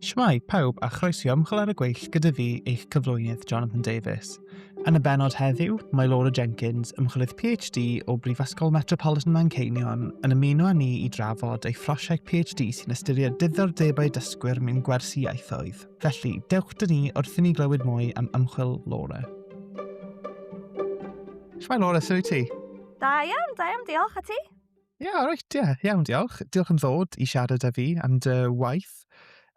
Shwmai, pawb, a chroeso i ymchwil ar y gweill gyda fi, eich cyflwynydd Jonathan Davies. Yn y benod heddiw, mae Laura Jenkins, ymchwilydd PhD o Brifysgol Metropolitan Manceinion, yn ymuno â ni i drafod ei phrosiect PhD sy'n ystyried diddordebau dysgwyr mewn gwersi ieithoedd. Felly, dewch dyn ni wrth i ni glywed mwy am ymchwil Laura. Shwmai Laura, sy'n ti? Da iawn, da iawn, diolch a ti? Ie, yeah, reit, ie. Yeah. Iawn, diolch. Diolch yn ddod i siarad â fi am dy waith.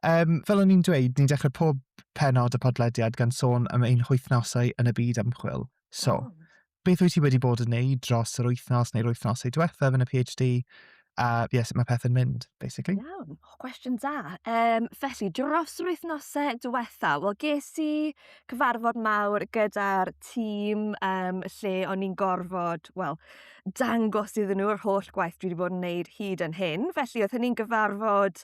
Um, fel o'n i'n dweud, ni'n dechrau pob penod y podlediad gan sôn am ein hwythnosau yn y byd ymchwil. So, oh. beth wyt ti wedi bod yn neud dros yr wythnos neu'r wythnosau diwethaf yn y PhD? A uh, yes, mae pethau'n mynd, basically. Iawn, oh, cwestiwn da. Um, felly, dros yr wythnosau diwethaf, wel, ges i cyfarfod mawr gyda'r tîm um, lle o'n i'n gorfod, wel, dangos iddyn nhw yr holl gwaith dwi wedi bod yn wneud hyd yn hyn. Felly oedd hynny'n gyfarfod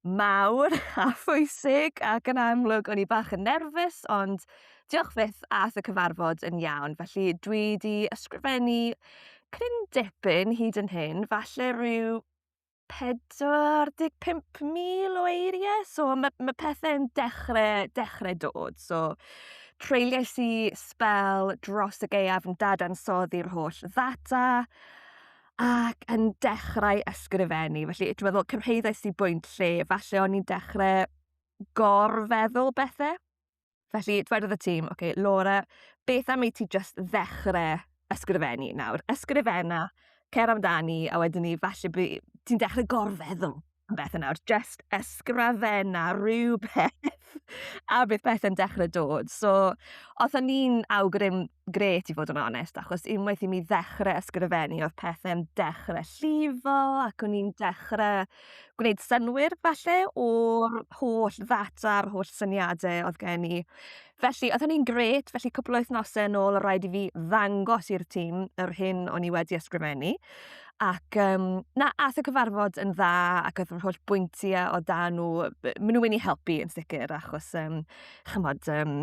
mawr a phwysig ac yn amlwg o'n i bach yn nerfus ond diolch fyth ath y cyfarfod yn iawn. Felly dwi wedi ysgrifennu cryn dipyn hyd yn hyn, falle rhyw 45,000 o eiriau, so ma' ma' pethe'n dechrau dechrau dod, so treuliais i sbel dros y gaeaf yn dadansoddi'r holl ddata ac yn dechrau ysgrifennu, felly ti'n gwbod fel cyrhaeddais i bwynt lle falle o'n i'n dechrau gor-feddwl bethau. Felly, dwedodd y tîm, OK, Laura, beth am i ti jyst ddechrau ysgrifennu nawr? Ysgrifenna, cer amdani, a wedyn ni, falle by- ti'n dechrau gorfeddwl am bethau nawr. Jyst ysgrifenna rhywbeth a bydd pethau'n dechrau dod. So, oedden ni'n awgrym grêt i fod yn onest, achos unwaith i mi ddechrau ysgrifennu oedd pethau'n dechrau llifo ac o'n i'n dechrau gwneud synwyr falle o'r holl ddata a'r holl syniadau oedd gen i. Felly, oedd hynny'n grêt, felly cwpl o wythnosau yn ôl o rhaid i fi ddangos i'r tîm yr hyn o'n i wedi ysgrifennu. Ac um, na, ath y cyfarfod yn dda ac oedd yr holl bwyntiau o dan nhw, maen nhw wedi helpu yn sicr achos, um, chymod, um,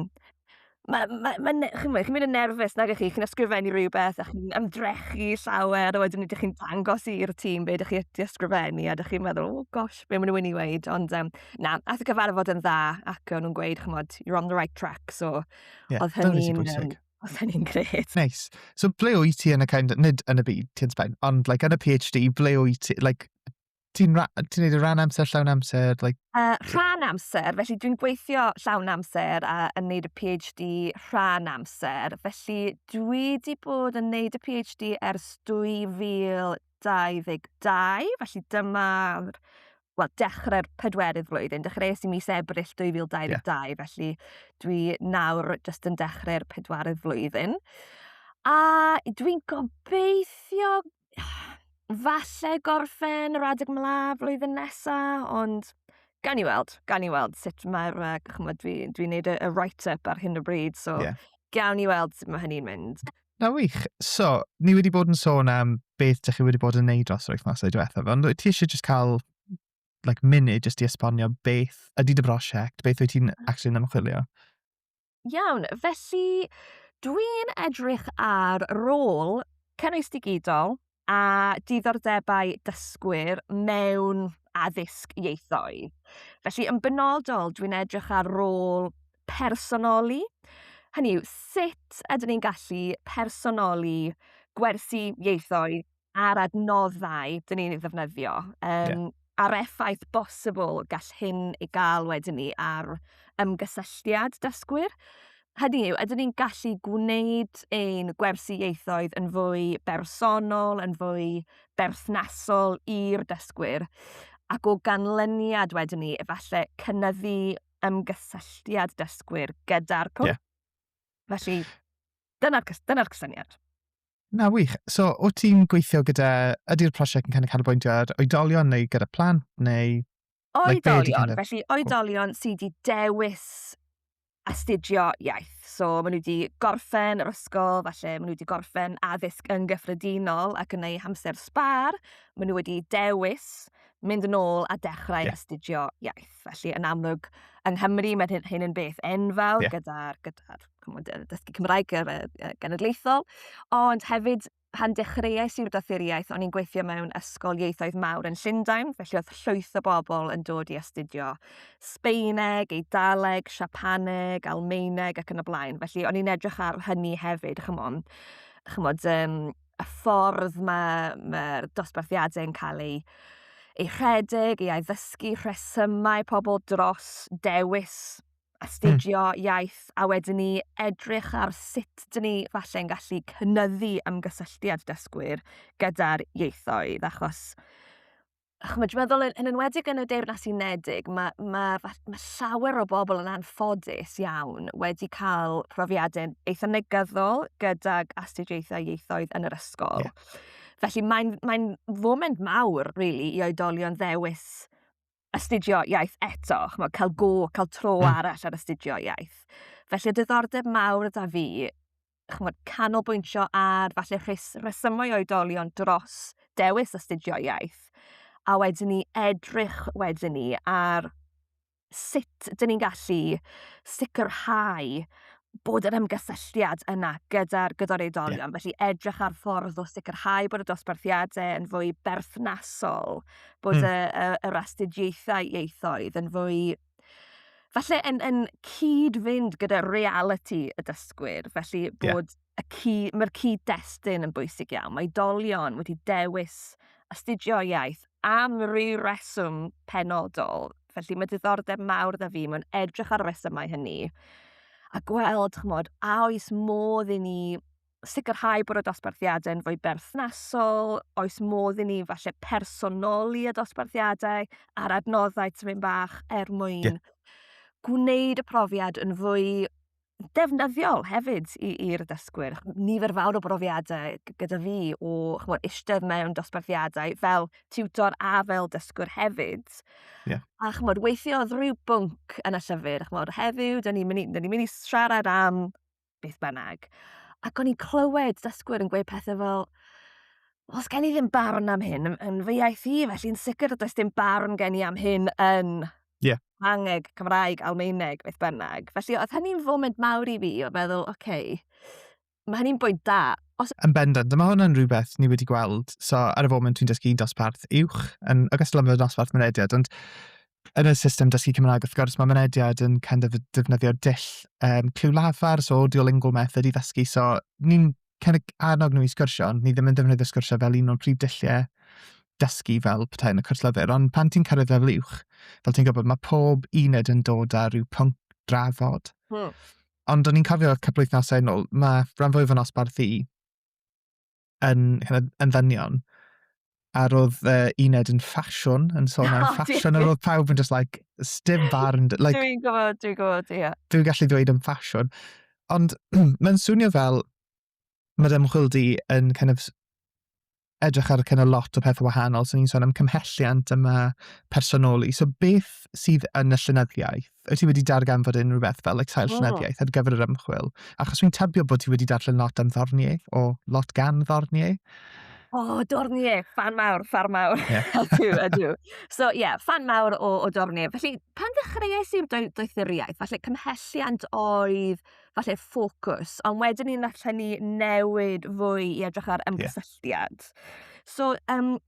Mae, mae, mae, ne- chi'n mynd, chi'n mynd yn nerfus nag ych chi, chi'n ysgrifennu rhywbeth a chi'n ymdrechu llawer a wedyn ydych chi'n dangos i'r tîm be ydych chi wedi ysgrifennu a ydych chi'n meddwl, oh gosh, be maen nhw'n mynd i weid, ond um, na, ath y gyfarfod yn dda ac o'n nhw'n gweud, chymod, you're on the right track, so yeah, oedd hynny'n... Um, oedd hynny'n gret. Nice. So ble wyt ti yn y kind, nid yn y byd, ti'n spen, ond like, yn y PhD, ble wyt ti, like, Ti'n ti neud y rhan amser, llawn amser? Like... Uh, rhan amser, felly dwi'n gweithio llawn amser a yn neud y PhD rhan amser. Felly dwi wedi bod yn neud y PhD ers 2022, felly dyma'r wel, dechrau'r pedwerydd flwyddyn. Dechreuais i mis Ebrill 2022, yeah. felly dwi nawr jyst yn dechrau'r pedwerydd flwyddyn. A dwi'n gobeithio falle gorffen yr adeg 'mla flwyddyn nesa ond gawn ni weld gawn ni weld sut mae'r yy ch'mod dwi dwi'n neud y y write up ar hyn o bryd so... Ie. ...gawn ni weld sut ma' hynny'n mynd. Na wych. So, ni wedi bod yn sôn am beth dych chi wedi bod yn neud dros yr wythnosau diwethaf, ond wyt ti eisiau jyst cael like munud jyst i esbonio beth ydy dy brosiect, beth wyt ti'n actually'n ymchwilio? Iawn, felly dwi'n edrych ar rôl cynnwys digidol a diddordebau dysgwyr mewn addysg ieithoedd. Felly yn benodol dwi'n edrych ar rôl personoli, hynny yw sut ydyn ni'n gallu personoli gwersi ieithoedd a'r adnoddau dyn ni'n ei ddefnyddio. Um, yeah. A'r effaith bosibl gall hyn ei gael wedyn ni ar ymgysylltiad dysgwyr. Hynny yw, ydyn ni'n gallu gwneud ein gwersi ieithoedd yn fwy bersonol, yn fwy berthnasol i'r dysgwyr, ac o ganlyniad wedyn ni, efallai cynnyddu ymgysylltiad dysgwyr gyda'r cwrs. Yeah. Felly, dyna'r dyna cysyniad. Na, wych. So, o ti'n gweithio gyda... Ydy'r prosiect yn kind of canolbwyntio ar oedolion neu gyda plant neu... Oedolion, like, kind of... felly oedolion sydd wedi dewis astudio iaith. So, maen nhw wedi gorffen yr ysgol, falle maen nhw wedi gorffen addysg yn gyffredinol ac yn ei hamser sbar, maen nhw wedi dewis mynd yn ôl a dechrau yeah. astudio iaith. Felly, yn amlwg, yng Nghymru, mae'n hyn, hyn yn beth enfawr yeah. gyda'r gyda, gyda dysgu Cymraeg ar y genedlaethol, ond hefyd pan dechreuais i'r doethuriaeth, o'n i'n gweithio mewn ysgol ieithoedd mawr yn Llundain, felly oedd llwyth o bobl yn dod i astudio Sbeineg, Eidaleg, Siapaneg, Almeineg ac yn y blaen. Felly o'n i'n edrych ar hynny hefyd, chymod, chymod um, y ffordd mae, mae'r dosbarthiadau yn cael eu, eu rhedeg, eu addysgu, rhesymau pobl dros dewis astudio mm. iaith, a wedyn ni edrych ar sut dyn ni falle'n gallu cynyddu ymgysylltiad dysgwyr gyda'r ieithoedd, achos chymod, dwi'n meddwl yn, yn enwedig yn y Deyrnas Unedig, mae, mae, mae llawer o bobl yn anffodus iawn wedi cael profiadau eitha negyddol gydag astudiaethau ieithoedd yn yr ysgol. Yeah. Felly mae'n mae foment mawr, really, i oedolion ddewis astudio iaith eto, chymod, cael go, cael tro mm. arall ar astudio iaith. Felly y diddordeb mawr yda fi ch'mod canolbwyntio ar falle rhes- rhesymau oedolion dros dewis astudio iaith a wedyn ni edrych wedyn ni ar sut 'dyn ni'n gallu sicrhau bod yr ymgysylltiad yna gyda'r gyda'r oedolion. Yeah. Felly edrych ar ffordd o sicrhau bod y dosbarthiadau yn fwy berthnasol, bod mm. y, y, yr astudiaethau ieithoedd yn fwy falle yn, yn cyd-fynd gyda reality y dysgwyr, felly bod yeah. y cy, mae'r cyd-destun yn bwysig iawn. Mae dolion wedi dewis astudio iaith am rhyw reswm penodol, felly mae diddordeb mawr dda fi mewn edrych ar y resymau hynny a gweld, chymod, a oes modd i ni sicrhau bod y dosbarthiadau yn fwy berthnasol, oes modd i ni falle personoli y dosbarthiadau a'r adnoddau tymyn bach er mwyn yeah. gwneud y profiad yn fwy defnyddiol hefyd i'r dysgwyr. Nifer fawr o brofiadau gyda fi o chmod, eistedd mewn dosbarthiadau fel tiwtor a fel dysgwr hefyd. Yeah. A chmod, weithio oedd rhyw bwnc yn y llyfr. Chmod, heddiw, dyn ni'n mynd, ni mynd i siarad am beth bynnag. Ac o'n i'n clywed dysgwyr yn gweud pethau fel, os gen i ddim barn am hyn yn, yn fy iaith i, felly'n sicr does dim barn gen i am hyn yn yeah. Angeg, Cymraeg, Almaeneg, beth bynnag. Felly oedd hynny'n foment mawr i fi o feddwl, oce, okay, mae hynny'n bwynt da. Os... Yn bendant, dyma hwnna'n rhywbeth ni wedi gweld. So, ar y foment dwi'n dysgu dosbarth uwch, yn ogystal â fy dosbarth mynediad, ond Yn y system dysgu Cymraeg wrth gwrs mae mynediad yn kind of defnyddio dull yym cliw lafar, so Duolingo method i ddysgu, so ni'n kind of annog nhw i sgwrsio ond ni ddim yn defnyddio sgwrsio fel un o'n prif dulliau dysgu fel petai yn y cwrs lyfr. Ond pan ti'n cyrraedd lefel uwch, fel ti'n gwybod, mae pob uned yn dod â rhyw pwnc drafod. Hmm. Ond o'n i'n cofio cwpl wythnosau yn ôl, mae rhan fwyaf o'n osbarth i yn, yn, yn ddynion. A roedd uh, uned yn ffasiwn, yn sôn am oh, ffasiwn, a roedd pawb yn just like, stym barn. Like, dwi'n gwybod, dwi'n gwybod, ie. Yeah. Dwi'n gallu dweud yn ffasiwn. Ond mae'n swnio fel, mae'r ymchwil di yn kind of edrych ar kind of lot o pethau wahanol. So ni'n sôn am cymhelliant yma personoli. So beth sydd yn y llynyddiaeth? wyt ti wedi darganfod unrhyw beth fel like, sail llenyddiaeth ar gyfer yr ymchwil? Achos fi'n tybio bod ti wedi darllen lot am Ddornier, o lot gan Ddornier. O, oh, Dornier, fan mawr, fan mawr. Yeah. ydw, ydw. So, ie, yeah, fan mawr o, o Dornier. Felly, pan ddechreuais i'r doethuriaeth, falle cymhelliant oedd falle ffocws, ond wedyn ni'n allan ni newid fwy i edrych ar ymgysylltiad. Yeah. So, um,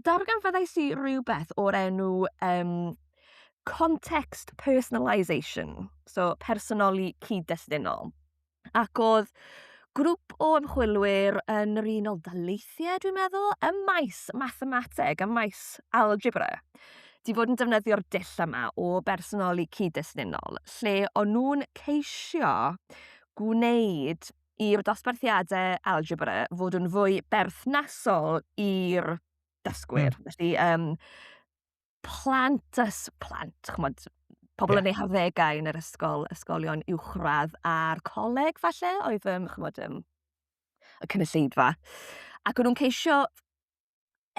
darganfyddais i rywbeth o'r enw yym context personalisation so personoli cyd-destunol ac o'dd grŵp o ymchwilwyr yn yr Unol Daleithiau dwi'n meddwl ym maes mathemateg ym maes algebra 'di fod yn defnyddio'r dull yma o bersonoli cyd-destunol lle o'n nhw'n ceisio gwneud i'r dosbarthiadau algebra fod yn fwy berthnasol i'r dysgwyr. Mm. Felly, um, plant, ys, plant, chmod, pobl yeah. yn ei harddegau yn yr ysgol, ysgolion uwchradd a'r coleg falle, oedd, um, chmod, um, y cynulleidfa. Ac o'n nhw'n ceisio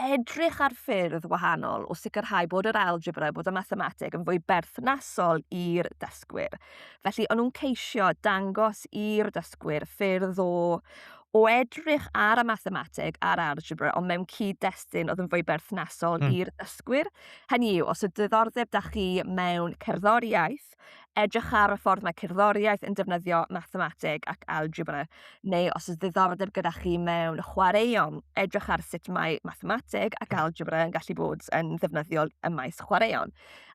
edrych ar ffyrdd wahanol o sicrhau bod yr algebra, bod y mathemateg yn fwy berthnasol i'r dysgwyr. Felly, o'n nhw'n ceisio dangos i'r dysgwyr ffyrdd o, o edrych ar y mathemateg a'r algebra, ond mewn cyd-destun oedd yn fwy berthnasol mm. i'r dysgwyr. Hynny yw, os y diddordeb da chi mewn cerddoriaeth, Cambridge, edrych ar y ffordd mae cerddoriaeth yn defnyddio mathemateg ac algebra, neu os oes ddiddordeb gyda chi mewn chwaraeon, edrych ar sut mae mathemateg ac algebra yn gallu bod yn ddefnyddiol ym maes chwaraeon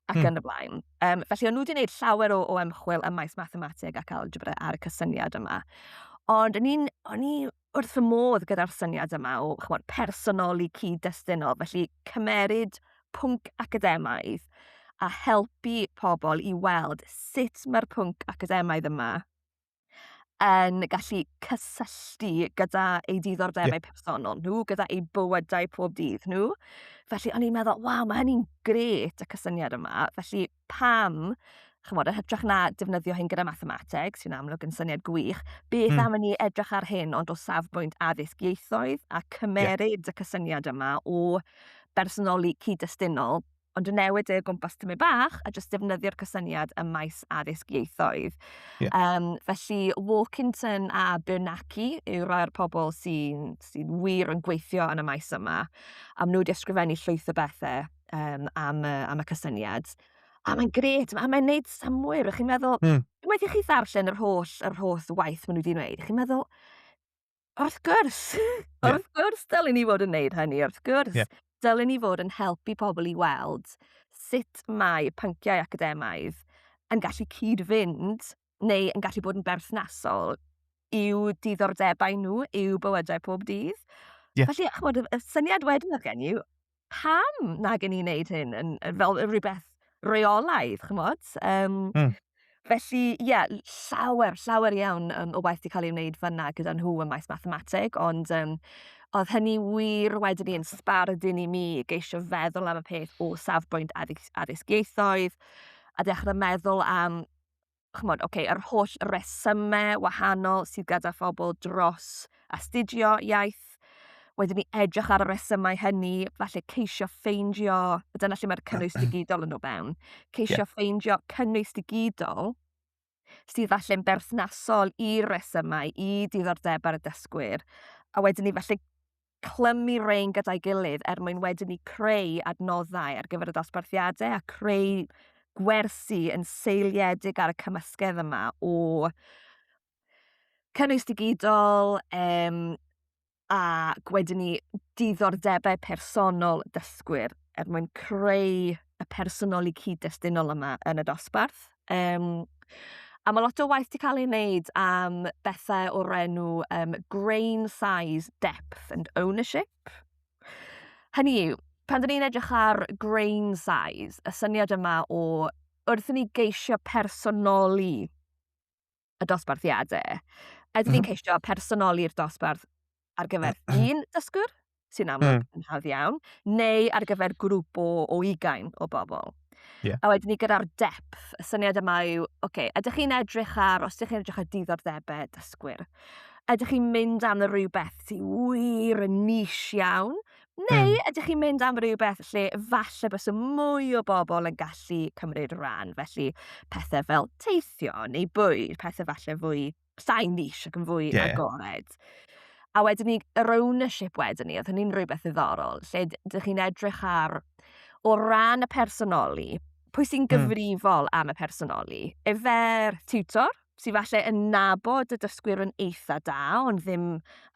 ac hmm. yn y blaen. Um, felly, o'n nhw wedi gwneud llawer o, o ymchwil ym maes mathemateg ac algebra ar y cysyniad yma. Ond o'n i'n, o'n i wrth y modd gyda'r syniad yma o chwod, personoli cyd-destunol, felly cymeryd pwnc academaidd a helpu pobl i weld sut mae'r pwnc academaidd yma yn gallu cysylltu gyda ei diddordebau yeah. personol nhw, gyda ei bywydau pob dydd nhw. Felly o'n i'n meddwl, waw, mae hynny'n gret y cysyniad yma. Felly pam, chymod, yn hytrach na defnyddio hyn gyda mathemateg, sy'n amlwg yn syniad gwych, beth mm. am i ni edrych ar hyn ond o safbwynt addysg ieithoedd a cymeryd yeah. y cysyniad yma o bersonoli cyd-destunol ond yn newid e o gwmpas tymu bach a jyst defnyddio'r cysyniad ym maes addysg ieithoedd. Yeah. Um, felly, Walkington a Bernacki yw rai o'r pobl sy'n sy wir yn gweithio yn y maes yma. A maen nhw wedi ysgrifennu llwyth o bethau um, am, uh, am y cysyniad. A mae'n gret, a mae'n neud samwyr, chi'n meddwl, mm. unwaith i chi ddarllen yr holl, yr holl waith maen nhw wedi wneud, chi'n meddwl, wrth gwrs, yeah. wrth gwrs dylen ni fod yn neud hynny, wrth gwrs, yeah. dylen ni fod yn helpu pobl i weld sut mae pynciau academaidd yn gallu cyd-fynd neu yn gallu bod yn berthnasol i'w diddordebau nhw, i'w bywydau pob dydd. Yeah. Felly, chymod, y syniad wedyn oedd gen i, pam na gen i wneud hyn yn, fel rhywbeth reolaidd, chymod? Um, mm. Felly, ie, yeah, llawer, llawer iawn um, o waith wedi cael ei wneud fyna gyda nhw ym maes mathemateg, ond um, oedd hynny wir wedyn i'n sbardun i mi geisio feddwl am y peth o safbwynt addysg, addysg ieithoedd, a dechrau meddwl am chymod, oce, yr holl resymau wahanol sydd gyda phobl dros astudio iaith. Wedyn ni edrych ar y resymau hynny, falle ceisio ffeindio, a dyna lle mae'r cynnwys digidol yn o fewn, ceisio yeah. ffeindio cynnwys digidol sydd falle'n berthnasol i'r resymau, i diddordebau'r dysgwyr, a wedyn ni falle clymu rein gyda'i gilydd er mwyn wedyn ni creu adnoddau ar gyfer y dosbarthiadau a creu gwersi yn seiliedig ar y cymysgedd yma o cynnwys digidol um, a gwedyn ni diddordebau personol dysgwyr er mwyn creu y personoli cyd-destunol yma yn y dosbarth. Um, a mae lot o waith wedi cael ei wneud am bethau o'r enw um, grain size, depth and ownership. Hynny yw, pan dyn ni'n edrych ar grain size, y syniad yma o wrth i ni geisio personoli y dosbarthiadau. Ydyn ni'n ceisio personoli'r dosbarth ar gyfer un dysgwr, sy'n amlwg mm. yn hawdd iawn, neu ar gyfer grŵp o, o ugain o bobl. Yeah. A wedyn ni gyda'r depth, y syniad yma yw, oce, okay, ydych chi'n edrych ar, os ydych chi'n edrych ar diddordebau dysgwyr, ydych chi'n mynd am rhywbeth sy'n wir yn nis iawn, Neu mm. ydych chi'n mynd am rhywbeth lle falle bys y mwy o bobl yn gallu cymryd rhan, felly pethau fel teithio neu bwyd, pethau falle fwy sain nis ac yn fwy yeah. agored. A wedyn ni, yr ownership wedyn ni, oedd hynny'n rhywbeth ddiddorol, lle ydych chi'n edrych ar, o ran y personoli, pwy sy'n hmm. gyfrifol mm. am y personoli? Efer tutor, sydd falle yn nabod y dysgwyr yn eitha da, ond ddim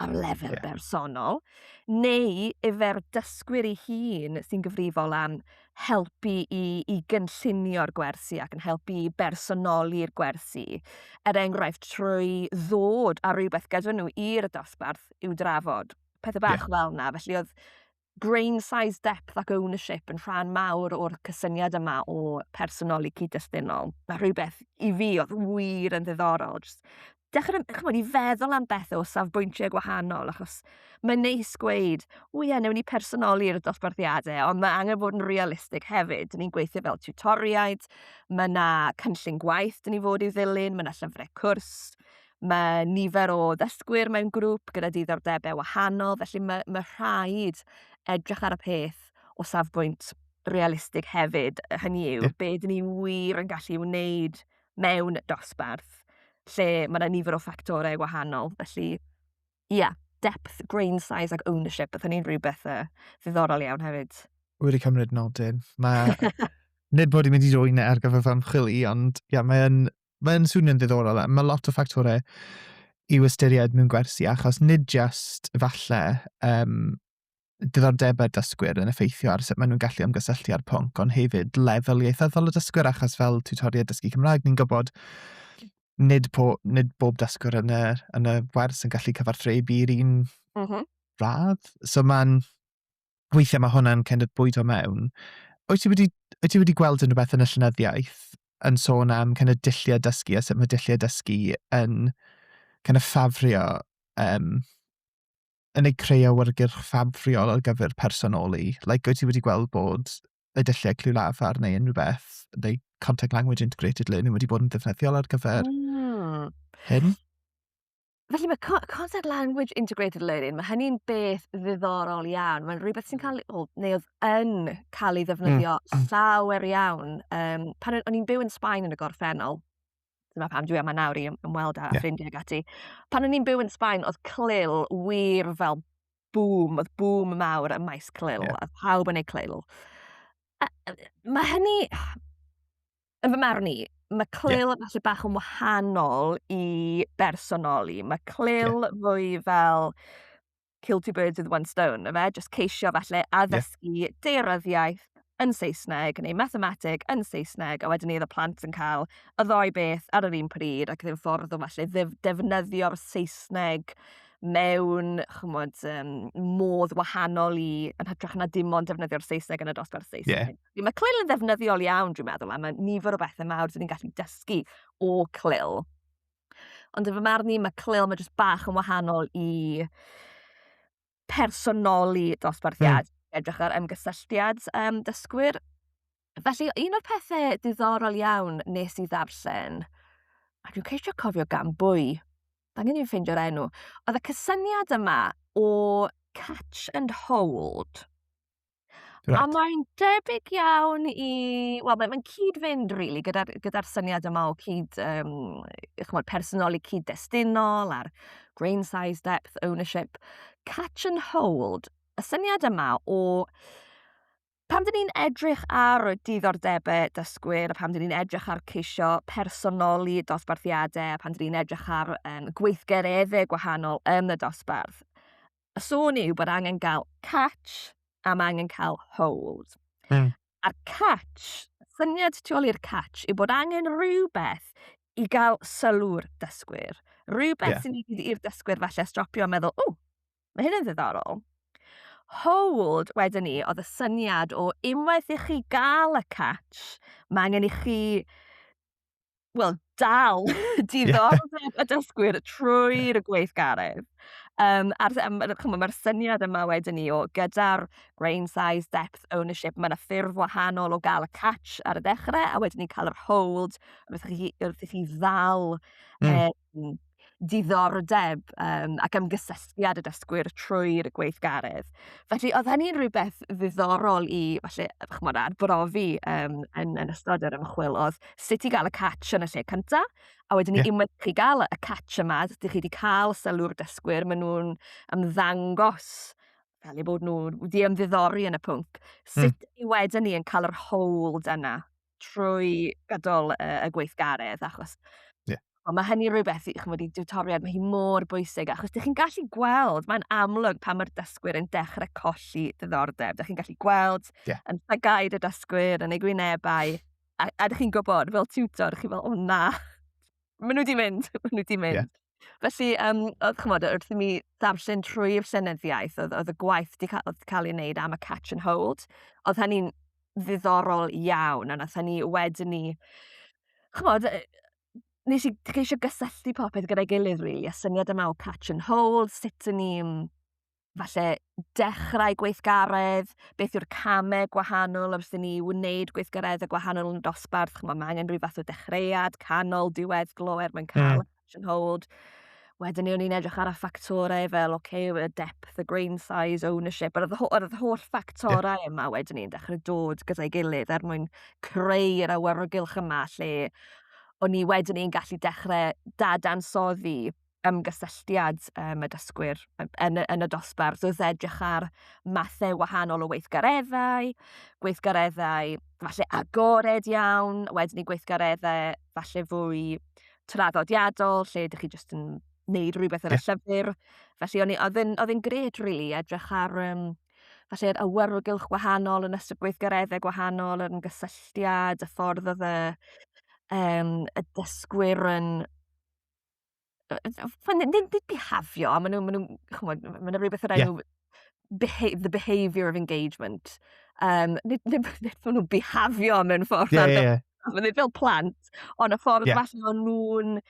ar lefel yeah. bersonol, neu efer dysgwyr ei hun sy'n gyfrifol am helpu i, i gynllunio'r gwersi ac yn helpu i bersonoli'r gwersi. Er enghraifft, trwy ddod ar rhywbeth gyda nhw i'r dosbarth i'w drafod. Pethau bach yeah. fel yna. Felly oedd brain size depth ac ownership yn rhan mawr o'r cysyniad yma o personoli cyd-destunol. Mae rhywbeth i fi oedd wir yn ddiddorol. Just dechrau, chymod, i feddwl am bethau o safbwyntiau gwahanol, achos mae'n neis gweud, o ie, newn ni personoli'r dosbarthiadau, ond mae angen bod yn realistig hefyd. Dyn ni'n gweithio fel tutoriaid, mae yna cynllun gwaith dyn ni fod i'w ddilyn, mae yna llyfrau cwrs, Mae nifer o ddysgwyr mewn grŵp gyda diddordebau wahanol, felly mae, mae rhaid edrych ar y peth o safbwynt realistig hefyd. Hynny yw, yeah. beth ni wir yn gallu wneud mewn dosbarth lle mae yna nifer o ffactorau gwahanol. Felly, ie, yeah, depth, grain size ac ownership, beth ni'n rhywbeth uh, ddiddorol iawn hefyd. Wedi cymryd nodyn. Mae... Nid bod i'n mynd i rwy'n ar gyfer fy ymchwil i, ond ia, mae'n mae'n swnio'n ddiddorol. Mae lot o ffactorau i'w ystyried mewn gwersi, achos nid jyst falle um, diddordebau'r dysgwyr yn effeithio ar sut maen nhw'n gallu ymgysylltu â'r pwnc, ond hefyd lefel ieithyddol y dysgwyr, achos fel tutoriad dysgu Cymraeg, ni'n gwybod nid, po, nid bob dysgwr yn y, yn y wers yn gallu cyfarthrebu i'r un mm -hmm. radd. So mae'n weithiau mae hwnna'n kind of bwydo mewn. Wyt ti wedi, wyt ti wedi gweld yn rhywbeth yn y llynyddiaeth yn sôn am kind of dilliau dysgu a sut mae dilliau dysgu yn kind of ffafrio, um, yn ei creu awyrgyrch ffafriol ar gyfer personoli? Like, wyt ti wedi gweld bod y dylliau clyw lafar neu unrhyw beth, neu contact language integrated learning wedi bod yn ddefnyddiol ar gyfer mm. hyn? Felly mae co- content language integrated learning, mae hynny'n beth ddiddorol iawn. Mae'n rhywbeth sy'n cael, o, neu oedd yn cael ei ddefnyddio mm. llawer iawn. Um, pan o'n i'n byw yn Sbaen yn y gorffennol, dyma pam dwi yma nawr i ymweld â yeah. ffrindiau gati. Pan o'n i'n byw yn Sbaen, oedd clil wir fel bŵm, oedd bŵm mawr y maes clil, yeah. oedd pawb yn ei clil. A, mae hynny... yn fy marn i, mae Clill yeah. falle bach yn wahanol i bersonoli. Mae Clill yeah. fwy fel kill two birds with one stone, yma, just ceisio falle addysgu yeah. deiryddiaeth yn Saesneg neu mathemateg yn Saesneg, a wedyn ni oedd y plant yn cael y ddoi beth ar yr un pryd ac ddim ffordd o falle defnyddio'r Saesneg mewn chymod, um, modd wahanol i yn hytrach na dim ond defnyddio'r Saesneg yn y dosbarth Saesneg. Yeah. Mae Clil yn ddefnyddiol iawn, dwi'n meddwl, a mae nifer o bethau mawr dyn ni'n gallu dysgu o Clil. Ond yn fy marn i, mae Clil mae jyst bach yn wahanol i personoli dosbarthiad, mm. edrych ar ymgysylltiad um, dysgwyr. Felly, un o'r pethau diddorol iawn nes i ddarllen, a dwi'n ceisio cofio gan bwy, da ni'n i'n ffeindio'r enw, oedd y cysyniad yma o catch and hold. Right. A mae'n debyg iawn i... Wel, mae'n mae cyd-fynd, rili, really, gyda'r gyda syniad yma o cyd... Um, chymod, personoli cyd-destunol a'r grain size, depth, ownership. Catch and hold. Y syniad yma o... Pam dyn ni'n edrych ar y diddordebau dysgwyr, a pam dyn ni'n edrych ar ceisio personoli dosbarthiadau, a pam dyn ni'n edrych ar um, gweithgareddau gwahanol yn y dosbarth, y sôn yw bod angen gael catch a mae angen cael hold. Mm. A'r catch, syniad tu ôl i'r catch yw bod angen rhywbeth i gael sylw'r dysgwyr. Rhywbeth yeah. sy'n mynd i'r dysgwyr falle stropio a meddwl, o, mae hyn yn ddiddorol. Hold, wedyn ni, oedd y syniad o unwaith i chi gael y catch, mae angen i chi wel, dal diddordeb y dysgwyr trwy'r gweithgaredd. Um, a'r, um, chymod, mae'r syniad yma wedyn ni o gyda'r grain size, depth, ownership, mae yna ffurf wahanol o gael y catch ar y dechrau a wedyn ni cael yr hold wrth i chi, wrth i chi ddal mm. e, mm, diddordeb um, ac ymgysylltiad y dysgwyr trwy'r gweithgaredd. Felly, oedd hynny'n rhywbeth ddiddorol i, felly, chymod, adbrofi um, yn, yn ystod yr ymchwil, oedd sut i gael y catch yn y lle cyntaf, a wedyn yeah. unwaith chi gael y catch yma, dych chi wedi cael sylw'r dysgwyr, maen nhw'n ymddangos fel eu bod nhw wedi ymddiddori yn y pwnc. Hmm. Sut mm. i wedyn ni yn cael yr hold yna? trwy gydol y, y gweithgaredd, achos yeah. o, mae hynny rhywbeth i chymod, i diwtoriad, mae hi mor bwysig, achos ydych chi'n gallu gweld, mae'n amlwg pan mae'r dysgwyr yn dechrau colli ddiddordeb, ydych chi'n gallu gweld yeah. yn llagaid y dysgwyr, yn ei gwynebau, a, a ydych chi'n gwybod, fel tiwtor, chi fel, o na, maen nhw wedi mynd, maen nhw wedi mynd. Yeah. Felly, um, oedd, chymod, wrth i mi ddarllen trwy'r llenyddiaeth, oedd, oedd y gwaith wedi cael, cael ei wneud am y catch and hold, oedd hynny'n ddiddorol iawn, a nath hynny wedyn ni, chymod, nes i ceisio gysylltu popeth gyda'i gilydd, really, a syniad yma o catch and hold, sut yn ni'n falle dechrau gweithgaredd, beth yw'r camau gwahanol wrth i ni wneud gweithgaredd y gwahanol yn y dosbarth, chymod, mae angen rhyw fath o dechreuad, canol, diwedd, glo er mwyn cael mm. action hold. Wedyn ni o'n i'n edrych ar y ffactorau fel, oce, okay, y depth, y grain size, ownership, yr yr holl ffactorau yeah. yma wedyn ni'n dechrau dod gyda'i gilydd er mwyn creu yr awyrgylch yma lle o'n ni wedyn ni'n gallu dechrau dadansoddi ymgysylltiad um, y dysgwyr yn, yn y dosbarth wrth edrych ar mathau wahanol o weithgareddau, gweithgareddau falle agored iawn, wedyn i gweithgareddau falle fwy traddodiadol, lle ydych chi jyst yn neud rhywbeth ar y llyfr. Felly oedd e'n gret, really, edrych ar um, falle yr awyrgylch gwahanol yn ystod gweithgareddau gwahanol, yr ymgysylltiad, y ffordd oedd y, um, y dysgwyr yn Mae'n ddim byd bihafio, maen nhw'n, maen nhw'n, chymod, maen nhw'n rhywbeth o'r enw yeah. beha the behaviour of engagement. Um, nid, nid, nid, nid maen nhw'n bihafio mewn ffordd. Yeah, yeah, yeah. Maen nhw'n fel plant, ond y ffordd yeah. maen nhw'n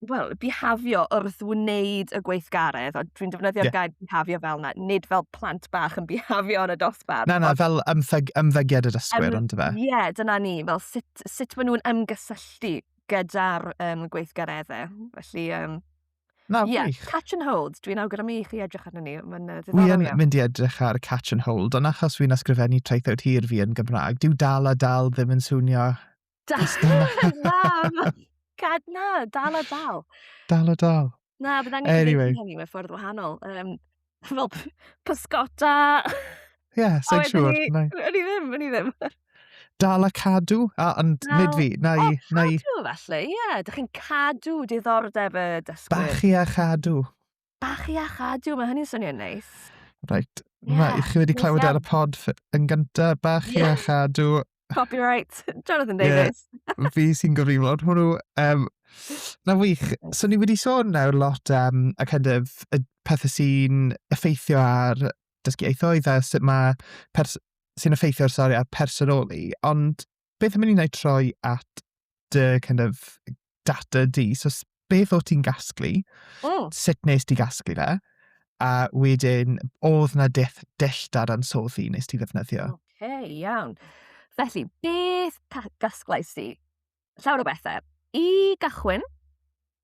well, bihafio wrth wneud y gweithgaredd, ond dwi'n defnyddio'r yeah. gair bihafio fel na, nid fel plant bach yn bihafio yn y dosbarth. Na, na, fel ymfeg, ymfegiad y dysgwyr, um, ond fe. Ie, yeah, dyna ni, fel sut, sut maen nhw'n ymgysylltu gyda'r um, gweithgareddau. Felly, um, Na, yeah, wych. catch and hold. Dwi'n awgrymu i chi edrych arnyn ni. Mae'n uh, ddiddorol iawn. Dwi'n mynd i edrych ar catch and hold, ond achos fi'n ysgrifennu traethawd hir fi yn Gymraeg, dyw dal a dal ddim yn swnio... Dal, na, na, dal a dal. Dal a dal. Na bydd angen... Anyway... ...neud hynny mewn ffordd wahanol yym fel p- pysgota. Ie sai'n siŵr. A wedyn 'ny... Nai... O'n i ddim o'n i ddim. Dal a cadw a ond... Wel. ...nid fi nai nai... O cadw felly ie dych chi'n cadw diddordeb y dysgwyr. Bachu a chadw. Bachu a chadw ma' hynny'n swnio'n neis. Reit. Ie. Ma' i chi wedi clywed e ar y pod fy- yn gynta bachu... Ie. ...a chadw Copyright, Jonathan Davies. Yeah, fi sy'n gyfriflod hwnnw. Um, na wych. So ni wedi sôn nawr lot am um, y kind of, y pethau sy'n effeithio ar dysgu eithoedd a sut mae sy'n effeithio ar sori ar personoli. Ond beth am i ni'n ei troi at dy kind of data di. So beth o ti'n gasglu, oh. sut nes ti gasglu fe, a wedyn oedd na deth delltar ansoddi nes ti ddefnyddio. Oce, okay, iawn. Felly, beth gasglais ti? Llawer o bethau. I gychwyn,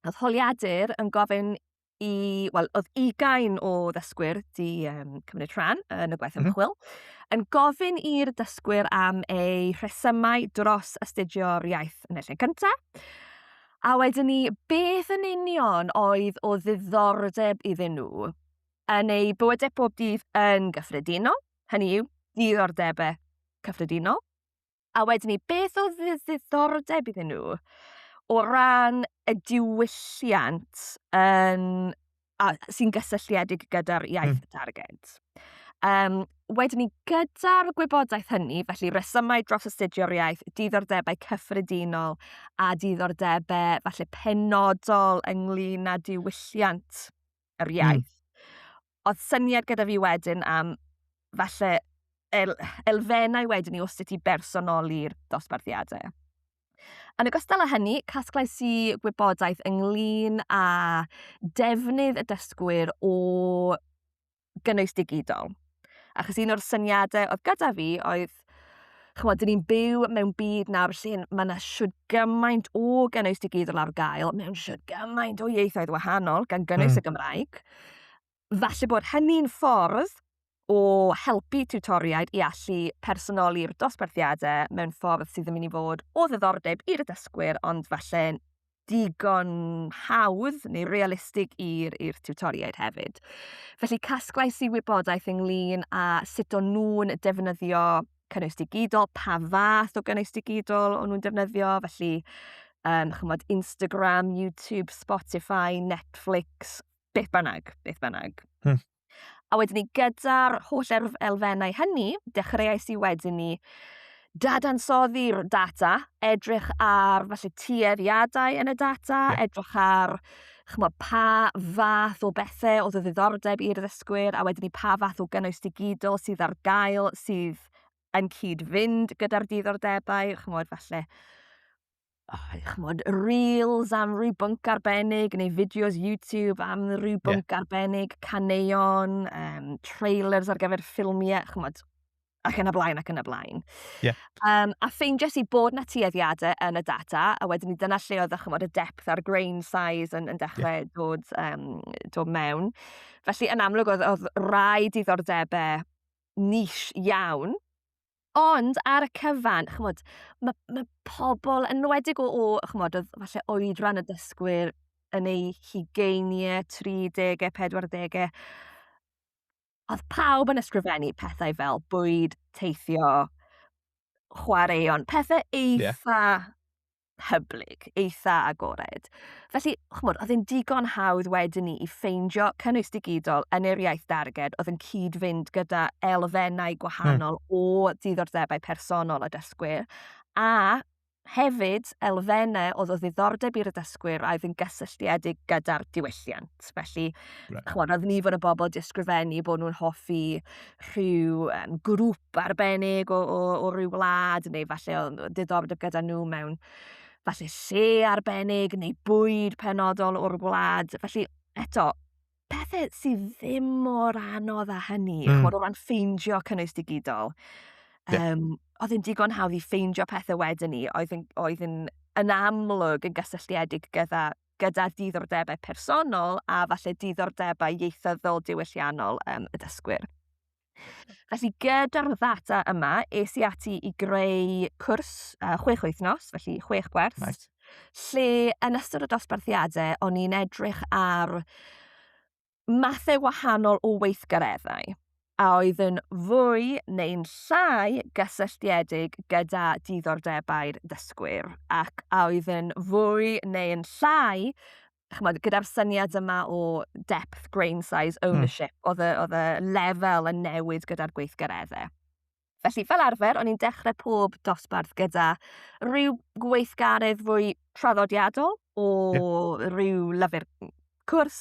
oedd holiadur yn gofyn i... wel, oedd ugain o ddysgwyr 'di yym cymryd rhan yn y gwaith ymchwil, yn gofyn i'r dysgwyr am eu rhesymau dros astudio'r iaith yn y lle cynta', a wedyn ni, beth yn union oedd o ddiddordeb iddyn nhw yn eu bywydau pob dydd yn gyffredinol, hynny yw, diddordebau cyffredinol. A wedyn ni, beth oedd ddiddordeb iddyn nhw o ran y diwylliant yn, a, sy'n gysylltiedig gyda'r hmm. iaith mm. targed? Um, wedyn ni, gyda'r gwybodaeth hynny, felly resymau dros astudio'r iaith, diddordebau cyffredinol a diddordebau falle penodol ynglyn â diwylliant yr hmm. iaith. Mm. oedd syniad gyda fi wedyn am falle el, elfennau wedyn i os ti bersonoli'r dosbarthiadau. Yn ogystal â hynny, casglais i gwybodaeth ynglyn â defnydd y dysgwyr o gynnwys digidol. Achos un o'r syniadau oedd gyda fi oedd lot. Ch'mod, 'dyn ni'n byw mewn byd nawr lle ma' 'na shwd gymaint o gynnwys digidol ar gael mewn shwd gymaint o ieithoedd wahanol, gan gynnwys mm. y Gymraeg. Falle bod hynny'n ffordd o helpu tiwtoriaid i allu personoli'r dosbarthiadau mewn ffordd sydd yn mynd i fod o ddiddordeb i'r dysgwyr, ond falle digon hawdd neu realistig i'r i'r tiwtoriaid hefyd. Felly casglais i wybodaeth ynglyn â sut o'n nhw'n defnyddio cynnwys digidol, pa fath o gynnwys digidol o'n nhw'n defnyddio, felly um, chymod, Instagram, YouTube, Spotify, Netflix, beth bynnag, beth bynnag. Hmm. A wedyn ni gyda'r holl elfennau hynny, dechreuais i wedyn ni dadansoddi'r data, edrych ar falle tueddiadau yn y data, edrych ar chymod, pa fath o bethau oedd y ddiddordeb i'r ddysgwyr a wedyn ni pa fath o gynnwys digidol sydd ar gael sydd yn cyd-fynd gyda'r diddordebau, chymod, falle oh, chmod, reels am rhyw bwnc arbennig, neu fideos YouTube am rhyw bwnc yeah. arbennig, caneuon, um, trailers ar gyfer ffilmiau, chmod, ac yn y blaen ac yn y blaen. Yeah. Um, a ffeindio i bod na tueddiadau yn y data, a wedyn ni dyna lle oedd chymod, y depth a'r grain size yn, yn dechrau yeah. dod, um, dod mewn. Felly yn amlwg oedd, oedd rai diddordebau nish iawn Ond ar y cyfan, ch'mod, ma' ma' pobol yn enwedig o o ch'mod odd falle oedran y dysgwyr yn eu hugeinie, tri dege, pedwar dege, odd pawb yn ysgrifennu pethau fel bwyd, teithio, chwaraeon, pethe eitha... Ie. hyblyg, eitha agored. Felly, chymod, oedd yn digon hawdd wedyn ni i ffeindio cynnwys digidol yn yr iaith darged oedd yn cyd-fynd gyda elfennau hmm. gwahanol hmm. o diddordebau personol y dysgwyr, a hefyd elfennau oedd o ddiddordeb i'r dysgwyr a oedd yn gysylltiedig gyda'r diwylliant. Felly, right. chymod, oedd ni fod y bobl disgrifennu bod nhw'n hoffi rhyw um, grŵp arbennig o, o, o ryw wlad, neu falle o diddordeb gyda nhw mewn falle lle arbennig neu bwyd penodol o'r wlad. Felly, eto, pethau sydd ddim mor anodd â hynny, mm. chod o ran ffeindio cynnwys digidol. Yeah. Um, oedd yn digon hawdd i ffeindio pethau wedyn ni, oedd yn, oedd yn, yn amlwg yn gysylltiedig gyda gyda diddordebau personol a falle diddordebau ieithyddol diwylliannol um, y dysgwyr. Felly gyda'r ddata yma, es i ati i greu cwrs uh, chwech wythnos, felly chwech gwerth, right. lle yn ystod y dosbarthiadau o'n i'n edrych ar mathau wahanol o weithgareddau a oedd yn fwy neu'n llai gysylltiedig gyda diddordebau'r dysgwyr ac a oedd yn fwy neu'n llai chymod, gyda'r syniad yma o depth, grain size, hmm. ownership, mm. oedd, y, oedd y lefel yn newid gyda'r gweithgareddau. Felly, fel arfer, o'n i'n dechrau pob dosbarth gyda rhyw gweithgaredd fwy traddodiadol o yeah. rhyw lyfr cwrs,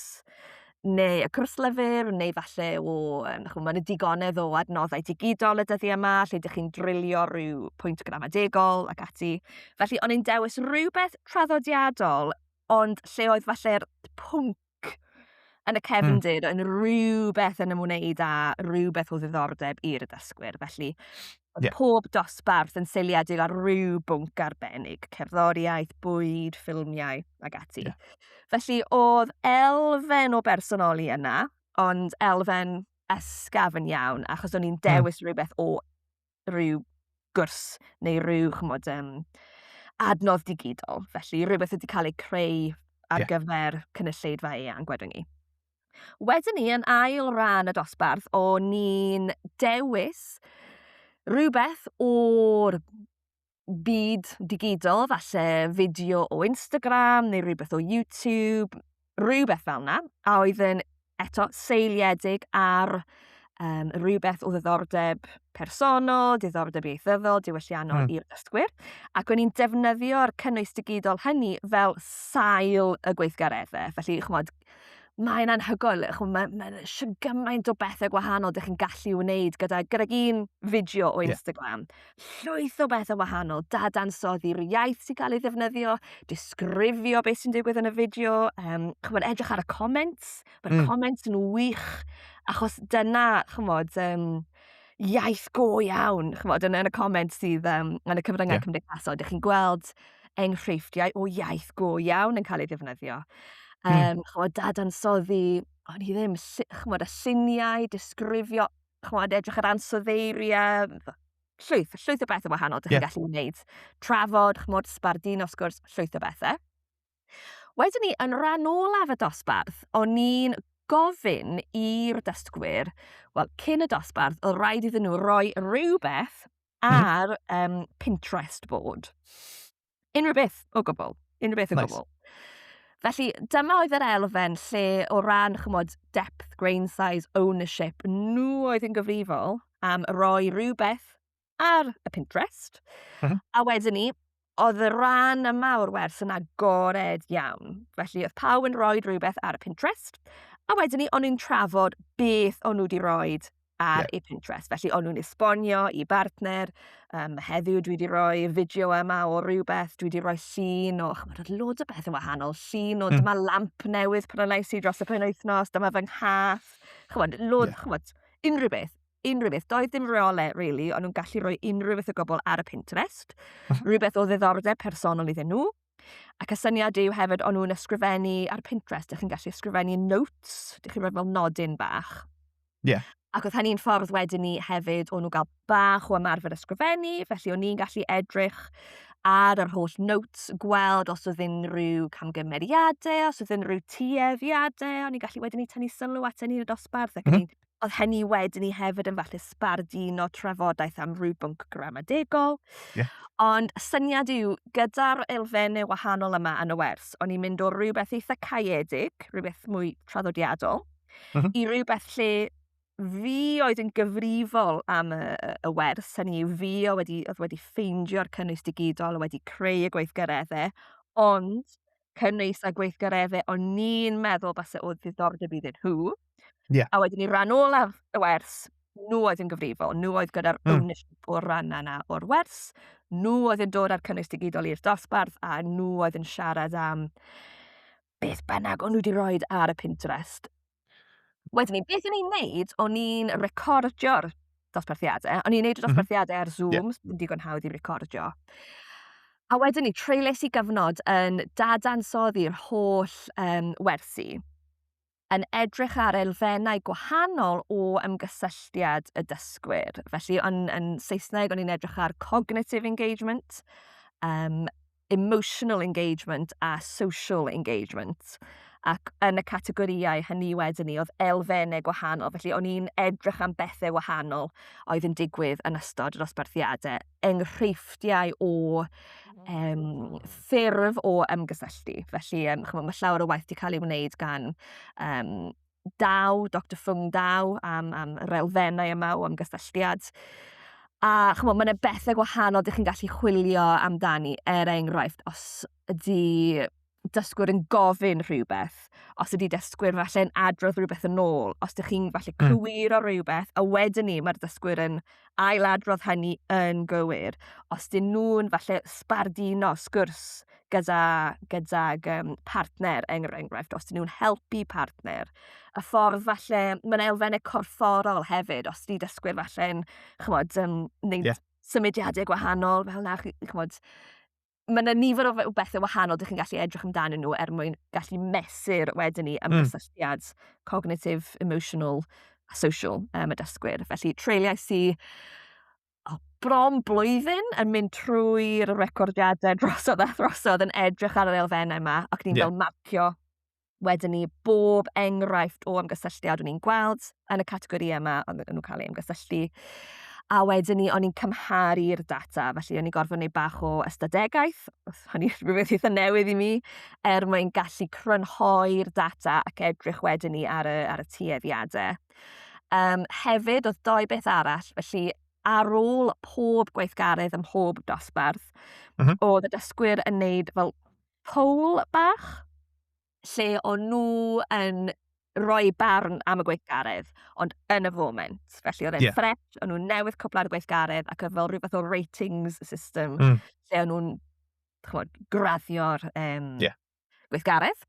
neu y cwrs lyfr, neu falle o, um, chwm, mae'n y digonedd o adnoddau digidol y dyddiau yma, lle ydych chi'n drilio rhyw pwynt gramadegol ac ati. Felly, o'n i'n dewis rhywbeth traddodiadol, ond lle oedd falle'r pwnc Jac yn y hmm. cefndir yn rhywbeth yn ymwneud â rhywbeth o ddiddordeb i'r dysgwyr. Felly, oedd yeah. pob dosbarth yn seiliedig ar rhyw bwnc arbennig, cerddoriaeth, bwyd, ffilmiau ac ati. Yeah. Felly, oedd elfen o bersonoli yna, ond elfen ysgaf yn iawn, achos o'n i'n hmm. dewis mm. rhywbeth o rhyw gwrs neu rhyw, chymod, um, adnodd digidol. Felly, rhywbeth wedi cael ei creu ar yeah. gyfer cynulleidfa eang, gwedwn ni. Wedyn ni, yn ail ran y dosbarth, o'n ni'n dewis rhywbeth o'r byd digidol, falle fideo o Instagram neu rhywbeth o YouTube, rhywbeth fel yna, a oedd yn eto seiliedig ar um, rhywbeth o ddiddordeb personol, diddordeb ieithyddol, diwylliannol mm. i'r dysgwyr, ac o'n i'n defnyddio'r cynnwys digidol hynny fel sail y gweithgareddau. Felly, chymod, mae'n anhygoel, ch'mo' ma' ma' 'na sh- gymaint o bethe gwahanol 'dych chi'n gallu wneud gyda gydag un fideo o Instagram. Ie. Llwyth o bethe wahanol, dadansoddi'r iaith sy'n cael ei ddefnyddio, disgrifio beth sy'n digwydd yn y fideo, yym ch'mod edrych ar y comments... Hmm. ...ma'r comments yn wych achos dyna ch'mod yym iaith go iawn, chimod, yn yn y comment sydd yym yn y cyfryngau... Ie. ...cymdeithasol, dych chi'n gweld enghreifftiau o iaith go iawn yn cael ei ddefnyddio. Hmm. Yym, chimod, dadansoddi, o'n i ddim, llu- chimod, y lluniau, disgrifio, chimod, edrych ar ansoddeiriau, yy, f- llwyth, llwyth o bethau wahanol dych chi'n Ie. gallu wneud. Trafod, chimod, sbarduno, wrth gwrs, llwyth o bethau. Wedyn ni, yn rhan olaf y dosbarth, o'n i'n gofyn i'r dysgwyr, wel, cyn y dosbarth, oedd rhaid iddyn nhw roi rhywbeth hmm. ar um, Pinterest bod. Unrhyw beth o gwbl. Unrhyw beth o nice. gwbl. Felly, dyma oedd yr elfen lle o ran, chymod, depth, grain size, ownership, nhw oedd yn gyfrifol am roi rhywbeth ar y Pinterest. Mm -hmm. A wedyn ni, oedd y rhan yma o'r wers yn agored iawn. Felly oedd pawb yn rhoi rhywbeth ar y Pinterest, a wedyn ni, o'n i'n trafod beth o'n nhw wedi rhoi ar yeah. eu Pinterest. Felly o'n nhw'n esbonio i bartner, um, heddiw dwi wedi rhoi fideo yma o rhywbeth, dwi wedi rhoi llun o, chymod, oedd lod o beth yn wahanol, llun o mm. dyma lamp newydd pan o'n i dros y pen wythnos, dyma fy nghath, chymod, lod, yeah. chymod, unrhyw beth. unrhyw beth. Doedd dim reole, really, o'n nhw'n gallu rhoi unrhyw beth o gobl ar y Pinterest. Mhm. Rhywbeth o ddiddordeb personol iddyn nhw. Ac y syniad yw hefyd, o'n nhw'n ysgrifennu ar Pinterest, ydych chi'n gallu ysgrifennu notes, ydych chi'n rhoi fel nodyn bach. Ie. Yeah. Ac oedd hynny'n ffordd wedyn ni hefyd o'n nhw gael bach o ymarfer ysgrifennu, felly o'n ni'n gallu edrych ar yr holl notes, gweld os oedd unrhyw camgymeriadau, os oedd unrhyw tueddiadau, o'n i'n gallu wedyn ni tynnu sylw at hynny yn y dosbarth ac mm -hmm. oedd hynny wedyn ni hefyd yn falle sbarduno trafodaeth am rhyw bwnc gramadegol. Yeah. Ond syniad yw, gyda'r elfennau wahanol yma yn y wers, o'n i'n mynd o rhywbeth eitha caeedig, rhywbeth mwy traddodiadol, uh mhm. -huh. i rhywbeth lle fi oedd yn gyfrifol am y, y wers, hynny yw fi oedd wedi, oedd wedi ffeindio'r cynnwys digidol, oedd wedi creu y gweithgareddau, ond cynnwys a gweithgaredde o'n ni'n meddwl base o ddiddordeb iddyn nhw. Yeah. A wedyn ni ran olaf y wers, nhw oedd yn gyfrifol, nhw oedd gyda'r mm. ownership o'r ran yna o'r wers, nhw oedd yn dod â'r cynnwys digidol i'r dosbarth a nhw oedd yn siarad am beth bynnag o'n nhw wedi rhoi ar y Pinterest. Wedyn ni, beth o'n i'n neud, o'n i'n recordio'r dosbarthiadau, o'n i'n neud y mhm. dosbarthiadau ar Zoom, yeah. yn digon hawdd i recordio. A wedyn ni, treules i gyfnod yn dadansoddi'r holl um, wersi, yn edrych ar elfennau gwahanol o ymgysylltiad y dysgwyr. Felly, yn, yn Saesneg, o'n i'n edrych ar cognitive engagement, um, emotional engagement a social engagement ac yn y categorïau hynny wedyn ni oedd elfennau gwahanol. Felly o'n i'n edrych am bethau wahanol oedd yn digwydd yn ystod yr osbarthiadau, enghreifftiau o um, ffurf o ymgysylltu. Felly um, chymod, mae llawer o waith wedi cael ei wneud gan um, Daw, Dr Fung Daw, am, am yr elfennau yma o ymgysylltiad. A chymod, mae'n bethau gwahanol dych chi'n gallu chwilio amdani, er enghraifft, os ydy dysgwyr yn gofyn rhywbeth, os ydy dysgwyr falle yn adrodd rhywbeth yn ôl, os ydych chi'n falle hmm. cywir o rhywbeth, a wedyn ni mae'r dysgwyr yn ail adrodd hynny yn gywir, os dyn nhw'n falle sbarduno sgwrs gyda, gyda um, partner, er enghraifft, os dyn nhw'n helpu partner, y ffordd falle, mae'n elfennau corfforol hefyd, os di dysgwyr falle'n, chymod, um, neud yeah. symudiadau gwahanol, fel na, chymod, mae yna nifer o bethau wahanol dych chi'n gallu edrych amdano nhw er mwyn gallu mesur wedyn ni am mm. gysylltiad cognitive, emotional a social um, y dysgwyr. Felly, treuliau sy'n oh, bron blwyddyn yn mynd trwy'r recordiadau drosodd a throsodd yn edrych ar yr elfennau yma ac ni'n yeah. fel marcio wedyn ni bob enghraifft o ymgysylltiad o'n i'n gweld yn y categori yma o'n nhw'n cael ei ymgysylltu. A wedyn ni, o'n i'n cymharu'r data, felly o'n i'n gorfod gwneud bach o ystadegaeth, hynny rhywbeth eitha newydd i mi, er mwyn gallu crynhoi'r data ac edrych wedyn ni ar y, ar y tueddiadau. Um, hefyd, oedd doi beth arall, felly ar ôl pob gweithgaredd ym mhob dosbarth, mm -hmm. oedd y dysgwyr yn neud fel poll bach, lle o'n nhw yn rhoi barn am y gweithgaredd, ond yn y foment. Felly oedd e'n yeah. ffres, o'n nhw'n newydd cwblad y gweithgaredd ac oedd fel rhywbeth o ratings system, mm. lle o'n nhw'n graddio'r um, yeah. gweithgaredd.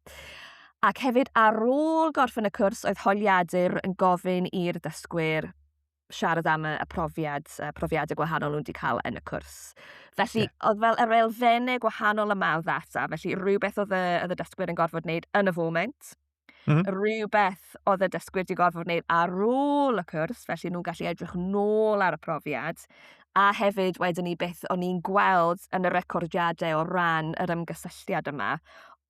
Ac hefyd ar ôl gorffen y cwrs oedd holiadur yn gofyn i'r dysgwyr siarad am y, y profiad, y profiadau gwahanol nhw'n wedi cael yn y cwrs. Felly, yeah. oedd fel yr elfennau gwahanol yma o ddata, felly rhywbeth oedd y, oedd y dysgwyr yn gorfod wneud yn y foment, Mm. -hmm. Rhywbeth oedd y dysgwyr wedi gorfod wneud ar ôl y cwrs, felly nhw'n gallu edrych nôl ar y profiad. A hefyd, wedyn ni beth o'n i'n gweld yn y recordiadau o ran yr ymgysylltiad yma,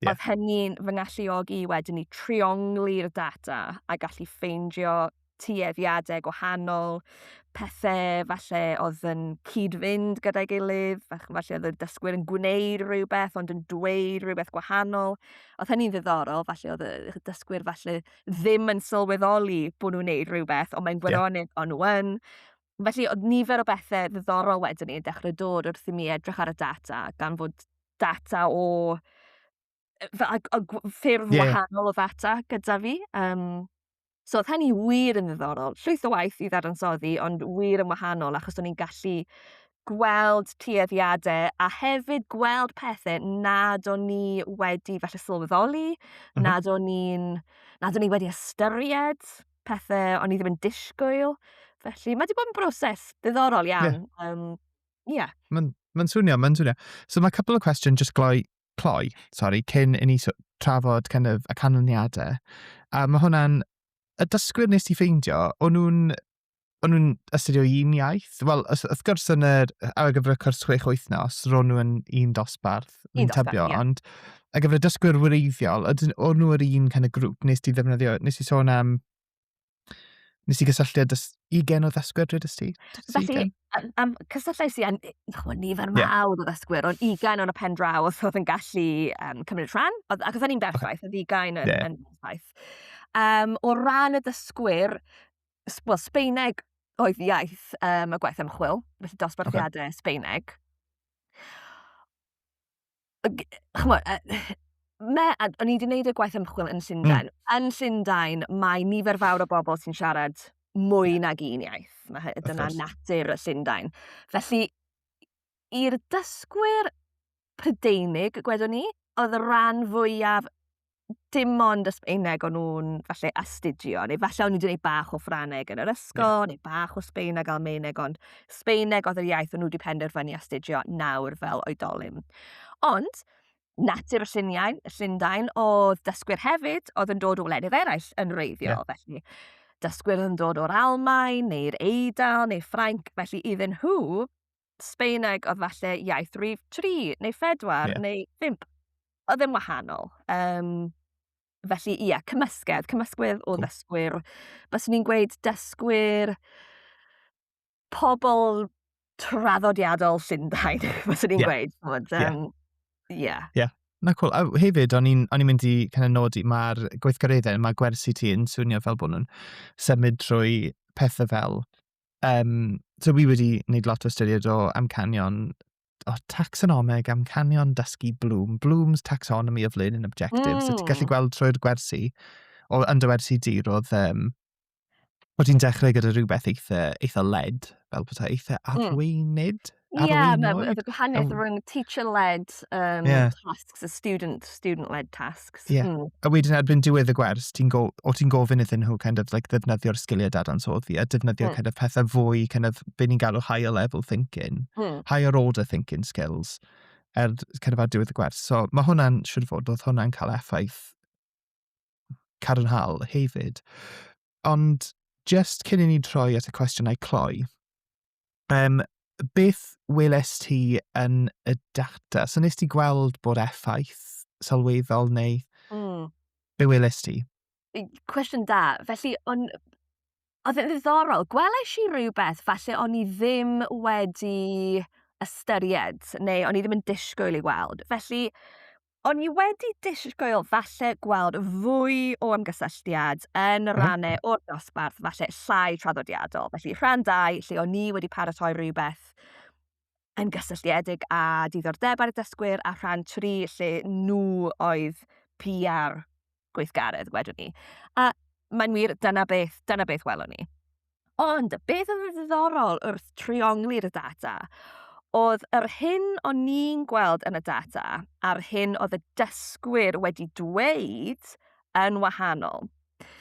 yeah. oedd hynny'n fy ngalluogi wedyn ni trionglu'r data a gallu ffeindio tueddiadau gwahanol, pethau falle oedd yn cyd-fynd gyda'i gilydd, falle oedd y dysgwyr yn gwneud rhywbeth ond yn dweud rhywbeth gwahanol. Oedd hynny'n ddiddorol, falle oedd y dysgwyr falle ddim yn sylweddoli bod nhw'n gwneud rhywbeth, ond mae'n gwirionedd yeah. o'n nhw yn. Felly, oedd nifer o bethau ddiddorol wedyn ni yn dechrau dod wrth i mi edrych ar y data, gan fod data o a, a, a ffyrdd yeah. wahanol o ddata gyda fi. Um, so oedd hynny wir yn ddiddorol. Llwyth o waith i ddadansoddi, ond wir yn wahanol achos o'n i'n gallu gweld tueddiadau a hefyd gweld pethau nad o'n ni wedi falle sylweddoli, mm -hmm. nad o'n ni'n nad o'n ni wedi ystyried pethau o'n i ddim yn disgwyl. Felly mae wedi bod yn broses ddiddorol iawn. Ie. Yeah. Um, yeah. Mae'n ma swnio, mae'n swnio. So mae couple o cwestiwn jyst gloi cloi, sori, cyn i ni so- trafod kind of, y canlyniadau. A mae hwnna'n... Y dysgwyr nes ti ffeindio, o'n nhw'n o'n nhw'n astudio un iaith? Wel, wrth gwrs yn yr, ar gyfer y cwrs chwech wythnos, ro'n nhw'n un dosbarth, un, un dosbarth, tybio, yeah. ond ar gyfer y dysgwyr wreiddiol, o'n nhw'r un kind of grŵp, nes ti ddefnyddio, nes ti sôn am Nes i gysylltu â dys- ugain o ddysgwyr, dwedais ti? Dwedais i Felly, ugain? yym, yym, cysylltais i â n- chimod, nifer Ie. mawr o ddysgwyr, ond ugain o'n y pen draw os oedd yn gallu um, cymryd rhan, oedd- ac oedd hynny'n berffaith, oedd ugain yn, Ie. yn berffaith. Um, o ran y ddysgwyr, s- wel, Sbeineg oedd iaith um, y gwaith ymchwil, felly dosbarthiadau Sbeineg. G- chimod, yy me- a- o'n i 'di wneud y gwaith ymchwil yn Llundain. Yn Llundain, mae nifer fawr o bobl sy'n siarad mwy nag un iaith. Mae hy- dyna course. natur y Llundain. Felly, i'r dysgwyr Prydeinig, gwedwn ni, oedd y rhan fwyaf dim ond y Sbaeneg o'n nhw'n falle astudio, neu falle o'n nhw wedi gwneud bach o Ffraneg yn yr ysgol, yeah. neu bach o Sbaeneg, Almaeneg, ond Sbaeneg oedd yr iaith o'n nhw wedi penderfynu astudio nawr fel oedolyn. Ond, natur y lluniau, y llundain, oedd dysgwyr hefyd, oedd yn dod o wledydd eraill yn reiddiol, yeah. felly dysgwyr yn dod o'r Almaen, neu'r Eidal, neu Ffrainc, felly iddyn nhw, Sbaeneg oedd falle iaith rif 3 neu 4 yeah. neu 5. Oedd yn wahanol. Um, felly, ie, yeah, cymysgedd, cymysgwydd o ddysgwyr. Bys ni'n gweud dysgwyr pobl traddodiadol Llundain, bys ni'n yeah. gweud. Bod, um, yeah. yeah. yeah. Na cool. A hefyd, o'n i'n mynd i kind of nodi, mae'r gweithgareddau, mae gwersi ti yn swnio fel bod nhw'n symud drwy pethau fel Yym, so fi wedi wneud lot o ystyried o amcanion o tacsonomeg, amcanion dysgu Bloom, Bloom's Taxonomy of Learning Objectives... mm! ...so ti'n gallu gweld trwy'r gwersi, o yn dy wersi di roedd yym o' ti'n dechrau gyda rhywbeth eitha eitha led fel petai eitha arweinydd? Ar Ie ôl ma' ma' the gwahaniaeth rhwng teacher led um Ie. tasks a student student led tasks. Ie. Hmm. A wedyn erbyn diwedd y gwers ti'n go- o ti'n gofyn iddyn nhw kind of like ddefnyddio'r sgiliau dadansoddi a defnyddio Mm. kind of pethau fwy kind of be ni'n galw higher level thinking, Hmm. higher order thinking skills er kind of ar diwedd y gwers. So mae hwnna'n siŵr o fod oedd hwnna'n cael effaith cadarnhaol hefyd. Ond just cyn i ni troi at y cwestiynau cloi, um, beth weles ti yn y data? So nes ti gweld bod effaith sylweddol neu mm. be weles ti? Cwestiwn da. Felly, on, oedd yn ddiddorol. Gwelais i rhywbeth falle o'n i ddim wedi ystyried neu o'n i ddim yn disgwyl i weld. Felly, O'n i wedi disgwyl falle gweld fwy o ymgysylltiad yn y rannau o'r dosbarth, falle llai traddodiadol. Felly rhan dau, lle o'n i wedi paratoi rhywbeth yn gysylltiedig â diddordebau'r dysgwyr, a rhan tri, lle nhw oedd PR gweithgaredd, wedwn ni. A mae'n wir, dyna beth, dyna beth welwn ni. Ond beth oedd yn ddiddorol wrth triongli'r data oedd yr hyn o'n ni'n gweld yn y data a'r hyn oedd y dysgwyr wedi dweud yn wahanol.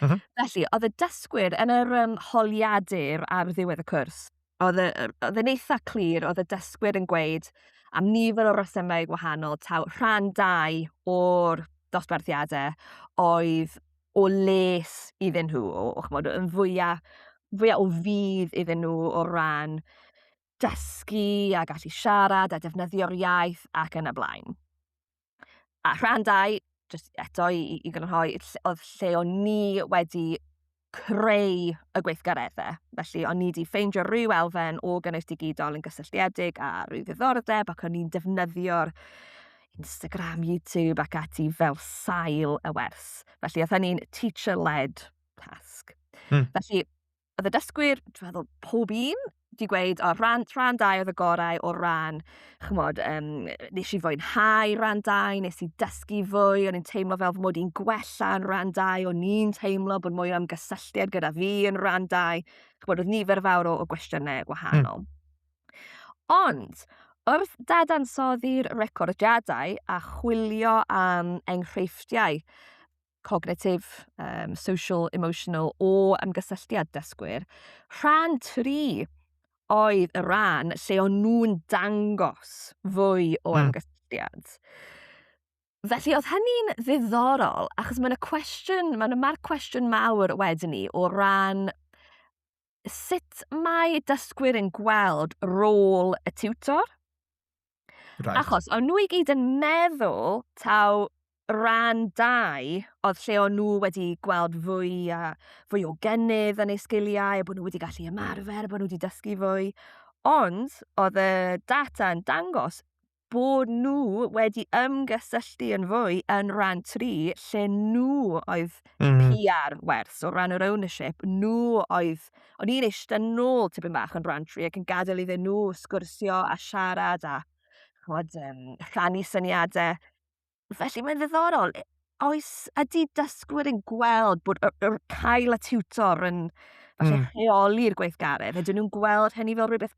Mm -hmm. Felly, oedd y dysgwyr yn yr um, holiadur ar ddiwedd y cwrs, oedd e, oedd e'n eitha clir, oedd y dysgwyr yn gweud am nifer o resymau gwahanol, taw rhan dau o'r dosbarthiadau oedd o les iddyn nhw, o, o chymod, yn fwyaf, fwyaf o fydd iddyn nhw o ran dysgu a gallu siarad a defnyddio'r iaith ac yn y blaen. A rhan dau, jyst eto i, i, i gynhoi, oedd lle o'n ni wedi creu y gweithgareddau. Felly, o'n ni wedi ffeindio rhyw elfen o gynnwys digidol yn gysylltiedig a rhyw ddiddordeb ac o'n ni'n defnyddio'r Instagram, YouTube ac ati fel sail y wers. Felly, oedd hynny'n teacher-led task. Hmm. Felly, oedd y dysgwyr, dwi'n meddwl, pob un, di gweud, o, rhan, rhan dau oedd y gorau o ran, chymod, um, nes i fwynhau rhan dau, nes i dysgu fwy, o'n i'n teimlo fel fy mod i'n gwella yn rhan dau, o'n i'n teimlo bod mwy o ymgysylltiad gyda fi yn rhan dau, chymod, oedd nifer fawr o, o gwestiynau hmm. gwahanol. Mm. Ond, wrth dadansoddi'r recordiadau a chwilio am enghreifftiau, cognitif, um, social, emotional o ymgysylltiad dysgwyr. Rhan 3 oedd y rhan lle o'n nhw'n dangos fwy o hmm. ymgysylltiad. Felly oedd hynny'n ddiddorol, achos mae'n y cwestiwn, mae'n mae'r cwestiwn mawr wedyn ni o ran sut mae dysgwyr yn gweld rôl y tiwtor Right. Achos o'n nhw i gyd yn meddwl taw rhan dau oedd lle o'n nhw wedi gweld fwy a fwy o gennydd yn eu sgiliau, bod nhw wedi gallu ymarfer, bod nhw wedi dysgu fwy. Ond oedd y data yn dangos bod nhw wedi ymgysylltu yn fwy yn rhan tri lle nhw oedd mm. PR werth, o ran yr ownership, nhw oedd O'n i'n eistedd nôl tipyn bach yn branch fi ac yn gadael iddyn nhw sgwrsio a siarad a chwod, um, rhannu syniadau. Felly mae'n ddiddorol. E, oes, ydy dysgwyr yn gweld bod y, y, cael y tutor yn falle mm. rheoli'r gweithgaredd? Ydyn nhw'n gweld hynny fel rhywbeth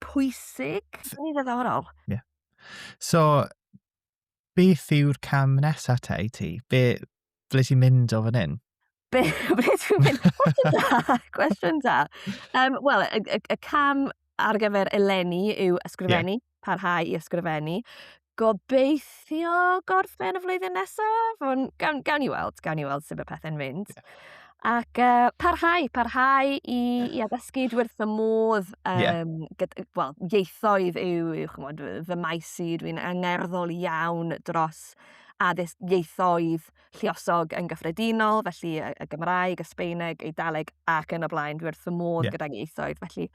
pwysig? Mae'n ddiddorol. Yeah. So, Beth yw'r cam nesaf te i ti? Be, ble ti'n mynd o fan hyn? Be, ble ti'n mynd? Cwestiwn da, cwestiwn da. Um, Wel, y, y, y cam ar gyfer eleni yw ysgrifennu, yeah. parhau i ysgrifennu. Gobeithio gorffen y flwyddyn nesaf, ond gawn, gawn ni weld, gawn ni weld sut mae pethau'n mynd. Yeah. Ac yy parhau parhau i... Ie. ...i addysgu dwi wrth fy modd yym... Ie. ...gyd- yy wel ieithoedd yw yw ch'mod fy fy maes i dwi'n angerddol iawn dros addysg ieithoedd lluosog yn gyffredinol felly yy y Gymraeg, y Sbaeneg, Eidaleg ac yn y blaen dwi wrth fy modd... Ie. ...gydag ieithoedd felly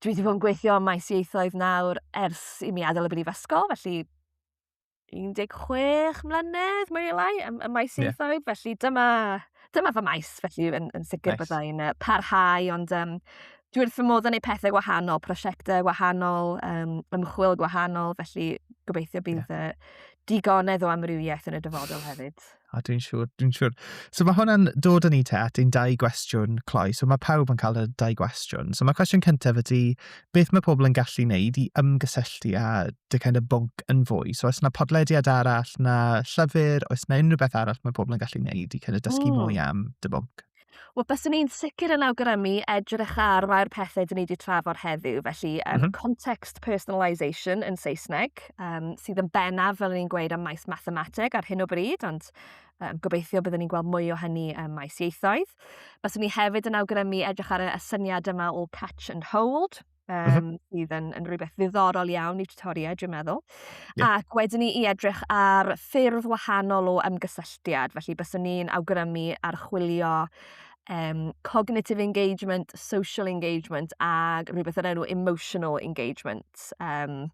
dwi 'di bod yn gweithio ym maes ieithoedd nawr ers i mi adael y brifysgol felly 16 mlynedd, mwy neu lai, ym, ym maes yeah. ieithoedd, felly dyma, dyma fy maes, felly yn, yn sicr nice. byddai'n uh, parhau, ond um, dwi wrth fy modd yn ei pethau gwahanol, prosiectau gwahanol, um, ymchwil gwahanol, felly gobeithio bydd yeah. uh, digonedd o amrywiaeth yn y dyfodol hefyd. A dwi'n siŵr, dwi'n siŵr. So mae hwnna'n dod â ni te at ein dau gwestiwn cloi. So mae pawb yn cael y dau gwestiwn. So mae cwestiwn cyntaf ydy, beth mae pobl yn gallu wneud i ymgysylltu â dy kind of bwnc yn fwy? So os yna podlediad arall, na llyfr, oes yna unrhyw beth arall mae pobl yn gallu wneud i kind of dysgu mm. mwy am dy bwnc? Wel byswn i'n sicr yn awgrymu edrych ar rhai o'r pethe 'dyn ni 'di trafod heddiw felly yym... M-hm. ...context personalisation yn Saesneg yym sydd yn bennaf fel o'n i'n gweud ym maes mathemateg ar hyn o bryd ond yym gobeithio bydden ni'n gweld mwy o hynny ym maes ieithoedd. Byswn i hefyd yn awgrymu edrych ar y y syniad yma o catch and hold um, mm -hmm. sydd yn, yn rhywbeth ddiddorol iawn i tutoriaid, dwi'n meddwl. Yeah. Ac wedyn ni i edrych ar ffyrdd wahanol o ymgysylltiad, felly byswn ni'n awgrymu archwilio um, cognitive engagement, social engagement a rhywbeth yr enw emotional engagement. Um,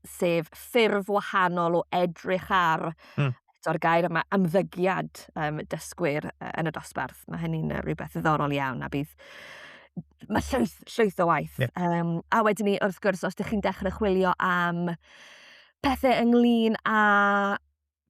sef ffurf wahanol o edrych ar mm. eto'r gair yma ymddygiad um, dysgwyr uh, yn y dosbarth. Mae hynny'n uh, rhywbeth ddiddorol iawn a bydd mae llwyth, llwyth o waith. Yeah. Um, a wedyn ni, wrth gwrs, os ydych chi'n dechrau chwilio am pethau ynglyn â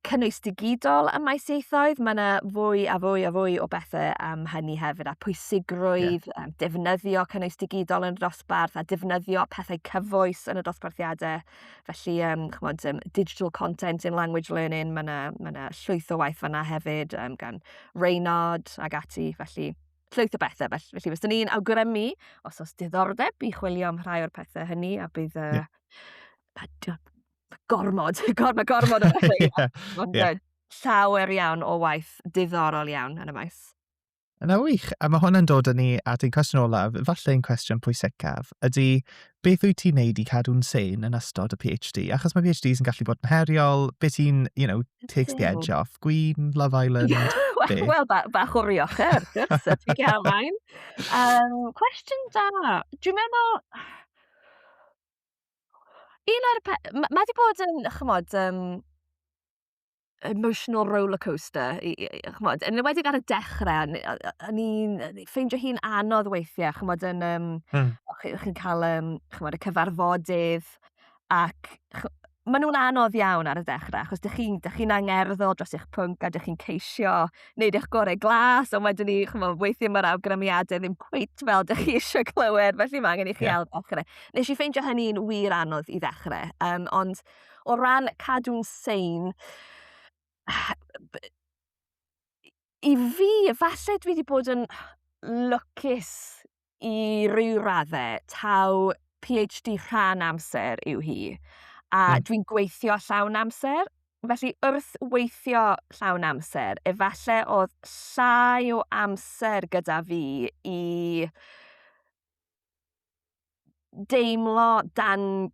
cynnwys digidol ym maes ieithoedd, mae yna fwy a fwy a fwy o bethau am hynny hefyd, a pwysigrwydd yeah. defnyddio cynnwys digidol yn y dosbarth, a defnyddio pethau cyfoes yn y dosbarthiadau. Felly, um, chymod, um, digital content in language learning, mae yna ma llwyth o waith fanna hefyd, um, gan Reynard ag ati, felly llwyth o bethau. Felly, felly fyswn ni'n awgrymu, os oes diddordeb, i chwilio am rhai o'r pethau hynny, a bydd... Uh, yeah. gormod, gormod, gormod o bethau. yeah. Ond yeah. llawer iawn o waith diddorol iawn yn y maes. Yna wych, a mae hwnna'n dod â ni at ein cwestiwn olaf, falle ein cwestiwn pwysicaf, ydy beth wyt ti'n neud i cadw'n sen yn ystod y PhD? Achos mae PhDs yn gallu bod yn heriol, beth ti'n, you know, takes the edge off, Gwyn, Love Island, Wel, well, ba, bach o rioch er, gwrs, a ti'n gael maen. Um, cwestiwn da, dwi'n meddwl, Un o'r pe- m- mae 'di bod yn chimod yym emotional rollercoaster i i i chimod yn enwedig ar y dechre o'n i o- o- o'n i'n yy ffeindio hi'n anodd weithie chimod yn yym... Hmm. ...o' chi o' chi'n ca'l yym chimod y cyfarfodydd ac ch- ma' nw'n anodd iawn ar y dechre achos dych chi'n dych chi'n angerddol dros eich pwnc a dych chi'n ceisio wneud eich gorau glas, ond wedyn ni, chymod, weithio mae'r awgrymiadau ddim cweit fel dych chi eisiau clywed, felly mae angen i chi yeah. ail ddechrau. Nes i ffeindio hynny'n wir anodd i ddechrau, um, ond o ran cadw'n sein, i fi, falle dwi wedi bod yn lwcus i ryw radde, taw PhD rhan amser yw hi, a hmm. dwi'n gweithio llawn amser. Felly wrth weithio llawn amser, efallai oedd llai o amser gyda fi i deimlo dan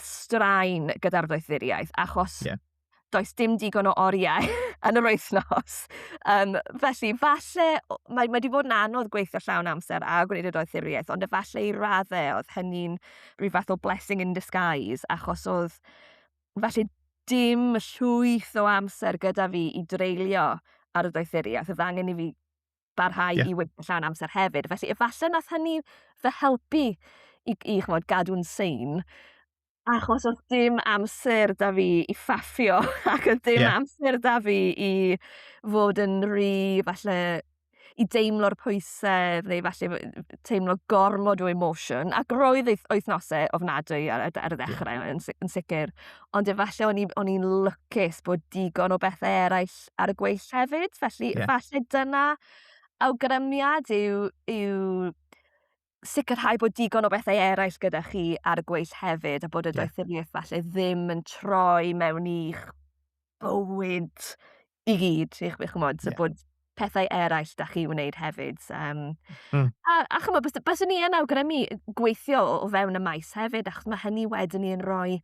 straen gyda'r ddoethuriaeth, achos yeah. does dim digon o oriau yn yr wythnos. Um, felly, falle, mae, mae wedi bod yn anodd gweithio llawn amser a gwneud y doethuriaeth, ond efallai i raddau oedd hynny'n rhyw fath o blessing in disguise, achos oedd, felly, dim llwyth o amser gyda fi i dreulio ar y doethuriaeth. Oedd angen i fi barhau yeah. i weithio llawn amser hefyd. Felly efallai nath hynny fy helpu i, i chymod, gadw'n sein. Achos oedd dim amser da fi i ffaffio ac oedd dim yeah. amser da fi i fod yn rhy, falle, i deimlo'r pwysau neu falle teimlo gormod o emotion. Ac roedd wythnosau ofnadwy ar, ar y ddechrau yeah. yn, yn sicr. ond efallai o'n i o'n i'n lwcus bod digon o bethe eraill ar y gweill hefyd felly... Ie. ...falle dyna awgrymiad yw yw sicrhau bod digon o bethe eraill gyda chi ar y gweill hefyd a bod y... Ie. ...doethurieth falle ddim yn troi mewn i'ch bywyd i gyd, i chwi chymod, so yeah. bod pethau eraill da chi wneud hefyd. Um, mm. A, a chymod, bys, bys ni yn awgrymu gweithio o fewn y maes hefyd, achos mae hynny wedyn ni'n rhoi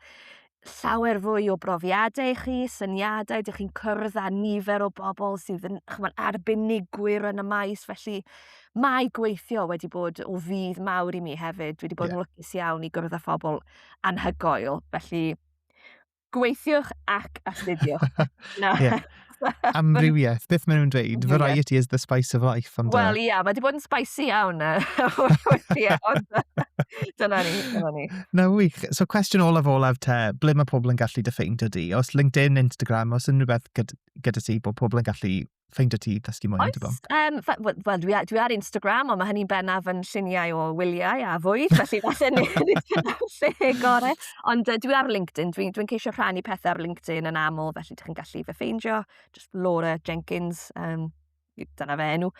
llawer fwy o brofiadau i chi, syniadau, dych chi'n cyrraedd â nifer o bobl sydd yn chymod, arbenigwyr yn y maes, felly mae gweithio wedi bod o fydd mawr i mi hefyd. Dwi wedi bod yeah. yn lwcus iawn i gwrdd â phobl anhygoel, felly Gweithiwch ac astudiwch. Na. yeah. Amrywiaeth, beth maen nhw'n dweud? Variety is the spice of life. Wel, uh, ie, yeah, mae wedi bod yn spicy iawn. Dyna ni, dyna ni. Na, wych. So, cwestiwn olaf olaf te, ble mae pobl yn gallu dy ffeindio di? Os LinkedIn, Instagram, os unrhyw beth gyda, gyda ti, bod pobl yn gallu ffeindio ti i ddysgu mwy amdano? Oes, um, wel, well, dwi, dwi ar Instagram, ond mae hynny'n bennaf yn lluniau o wyliau a fwyd, felly falle ni lle gorau. Ond uh, dwi ar LinkedIn, dwi'n dwi, ceisio rhannu pethau ar LinkedIn yn aml, felly ydych chi'n gallu fe ffeindio, just Laura Jenkins, um, dyna fe enw.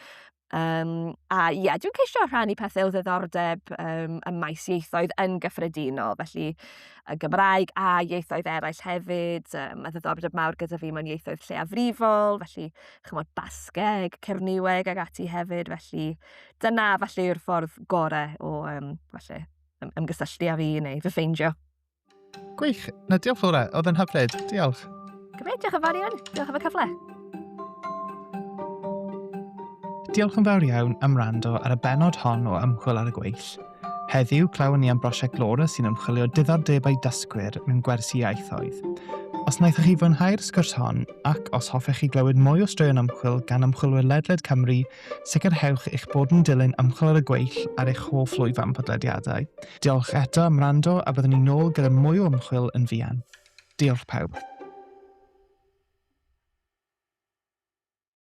Um, a ie, yeah, dwi'n ceisio rhannu pethau o ddiddordeb um, ym maes ieithoedd yn gyffredinol, felly y Gymraeg a ieithoedd eraill hefyd. Um, mae ddiddordeb mawr gyda fi mewn ieithoedd lleiafrifol, felly chymod Basgeg, Cerniweg ac ati hefyd, felly dyna falle yw'r ffordd gorau o um, falle, ymgysylltu â fi neu fy ffeindio. Gwych. Na, diolch Laura. Oedd yn hyfryd. Diolch. Gymryd, diolch yn fawr iawn. Diolch am y cyfle. Diolch yn fawr iawn am rando ar y benod hon o ymchwil ar y gweill. Heddiw, clywon ni am brosiect Laura sy'n ymchwilio diddordebau dysgwyr mewn gwersi iaithoedd. Os wnaethoch chi fwynhau'r sgwrs hon, ac os hoffech chi glywed mwy o straeon ymchwil gan ymchwilwyr ledled Cymru, Sicrhewch eich bod yn dilyn ymchwil ar y gweill ar eich hoff lwyfan podlediadau. Diolch eto am wrando a byddwn ni nôl gyda mwy o ymchwil yn fuan. Diolch pawb.